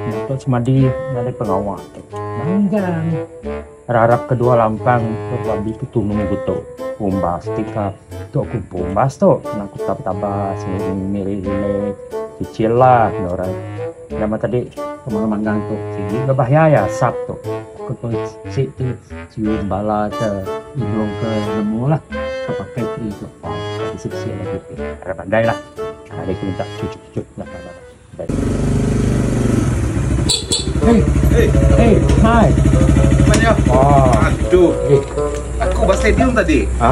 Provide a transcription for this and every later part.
Datuk Semadi nyadi pengawa tu manggang rarap ke dua lampang dok bambi ke tunu beto umbas ti ka tok kumpu umbas tu kena ku tap taba miri rilek chill lah ngan orang nama tadi pemang manggang tu sigi ke bahia iya asap tu. Kepa sik tu suin bala ke inung ke nemu lah ke pakai tree tu pang bisi sik lagi tu harap andai lah ari ku minta cucuk cucuk nya bala tu andai Hey Hey Hey Hi Manya Wow Aduh Aku ba stadium tadi Ha.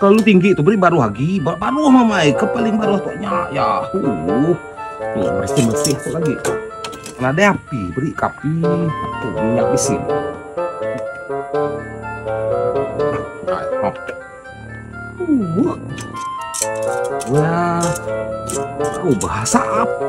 Kelalu tinggi tu beri baruh agi ba baruh mamai ke paling baruh tu nya ya. Uh. Ni bersih-bersih tu lagi. Nadai api beri kapi tu minyak bisin. Uh. Wah. Aku bahasa apa?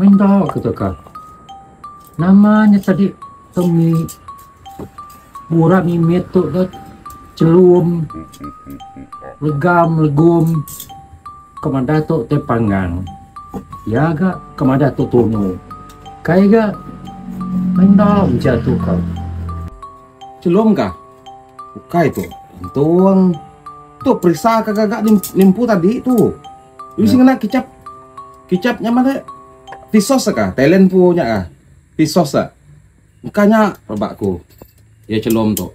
Main enda ke teka. Nama nya sadi ke mi mura mimit tu ke chelum legam legum ke madah tu tai panggang. Iya ga ke madah tu tumu. Kai ga main enda mejatu ka. Chelum kah? Ukai tu. Entung. Tu perisa ka gaga nimpu tadi tu. Lu si ngena kicap. Kicap nya mana? Tisos ka? Talent pu nya ka? Tisos ka? Engka nya rebak ku. Iya chelum tu.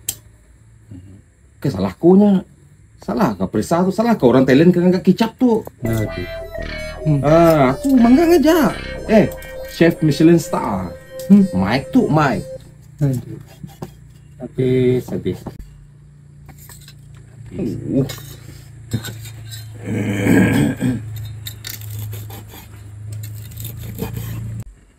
Ke salah aku nya. Salah ka perisa tu. Salah ka orang Thailand ke ngaga kicap tu. Ngaga. Hmm. Uh, aku mangga ngaja. Eh, chef Michelin star. Hmm. Mike tu, Mike. Aduh. Habis, habis. Uh.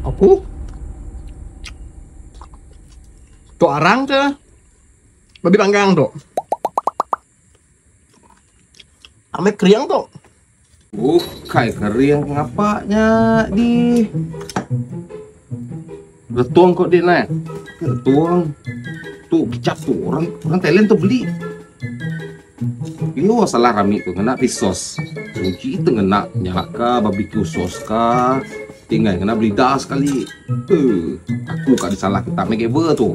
Apu. Tu arang ke? Babi panggang tu. Ambil kering tu. Bukai kering ngapa nya di. Betung ko dik neh. Betung. Tu bijak tu orang orang Thailand tu beli. Yo salah rami tu ngena pi sos. Uji tu ngena nyala ka barbecue sos ka. Tinggal ngena belida sekali. Tu aku ka disalah kita mega ber tu.